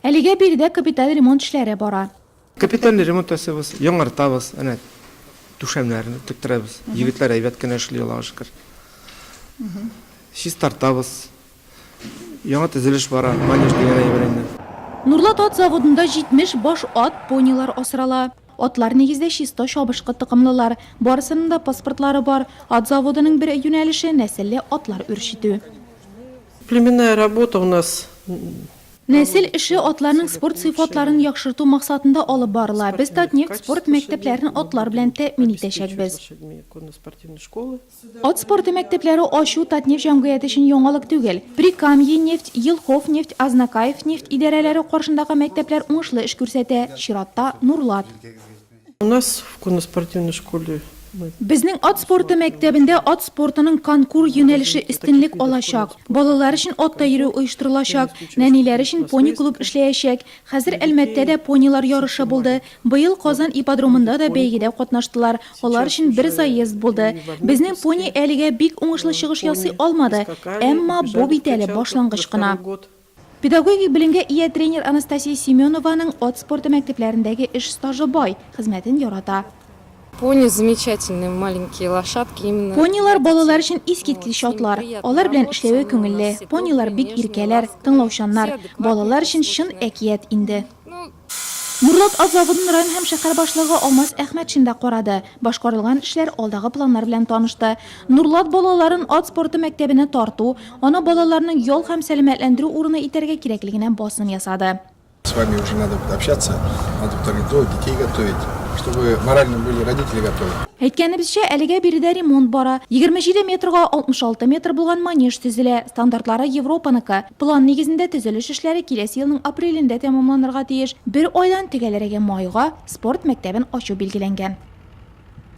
Әлегә биредә капиталь ремонт эшләре бара. Капиталь ремонт ясыйбыз, яңартабыз, әнә түшәмнәрне тектерәбез. Егетләр әйбәт кенә эшли, Аллага шөкер. Чистартабыз. Яңа төзелеш бара, манеж дигән әйбер инде. Нурлат ат заводында 70 баш ат, понилар асрала. Атлар нигездә чисто чабышкы токымлылар. Барысының да паспортлары бар. Ат заводының бер юнәлеше, нәселле атлар үрчетү. Племенная работа у нас Нәсел эше атларның спорт сыйфатларын яхшырту максатында алып барыла. Без Татнефть спорт мәктәпләрен атлар белән тәэмин итәчәкбез. Ат спорты мәктәпләре ачу Татнефть җәмгыяте өчен яңалык түгел. Прикамьенефть, Елховнефть, Азнакаевнефть идарәләре каршындагы мәктәпләр уңышлы эш күрсәтә, чиратта, Нурлат. Безнең ат спорты мәктәбендә ат спортының конкур юнәлеше өстенлек алачак. Балалар өчен атта йөрү оештырылачак, нәниләр өчен пони-клуб эшләячәк. Хәзер Әлмәттә дә понилар ярышы булды. Быел Казан ипподромында да бәйгедә катнаштылар, алар өчен бер заезд булды. Безнең пони әлегә бик уңышлы чыгыш ясый алмады, әмма бу бит әле башлангыч кына. Педагогик белемгә ия тренер Анастасия Семенованың ат спорты мәктәпләрендәге эш стажы бай, хезмәтен ярата. Пони замечательные маленькие лошадки именно. Понилар балалар өчен искиткеч атлар. Алар белән эшләве күңелле. Понилар бик иркәләр, тыңлаучаннар. Балалар өчен чын әкият инде. Норлат автозаводын район һәм шәһәр башлыгы Алмаз Әхмәтшин да карады, башкарылган эшләр, алдагы планнар белән танышты. Норлат балаларын ат спорты мәктәбенә тарту, аны балаларның ял һәм сәламәтләндерү урыны итәргә кирәклегенә басым ясады. С вами уже надо будет общаться, надо будет организовывать, детей готовить, чтобы морально были родители готовы. Әйткәнебезчә, әлегә биредә ремонт бара. Егерме җиде метрга алтмыш алты метр булган манеж төзелә, стандартлары Европаныкы. План нигезендә төзелеш эшләре киләсе елның апрелендә тәмамланырга тиеш. Бер айдан төгәлрәге майга спорт мәктәбен ачу билгеләнгән.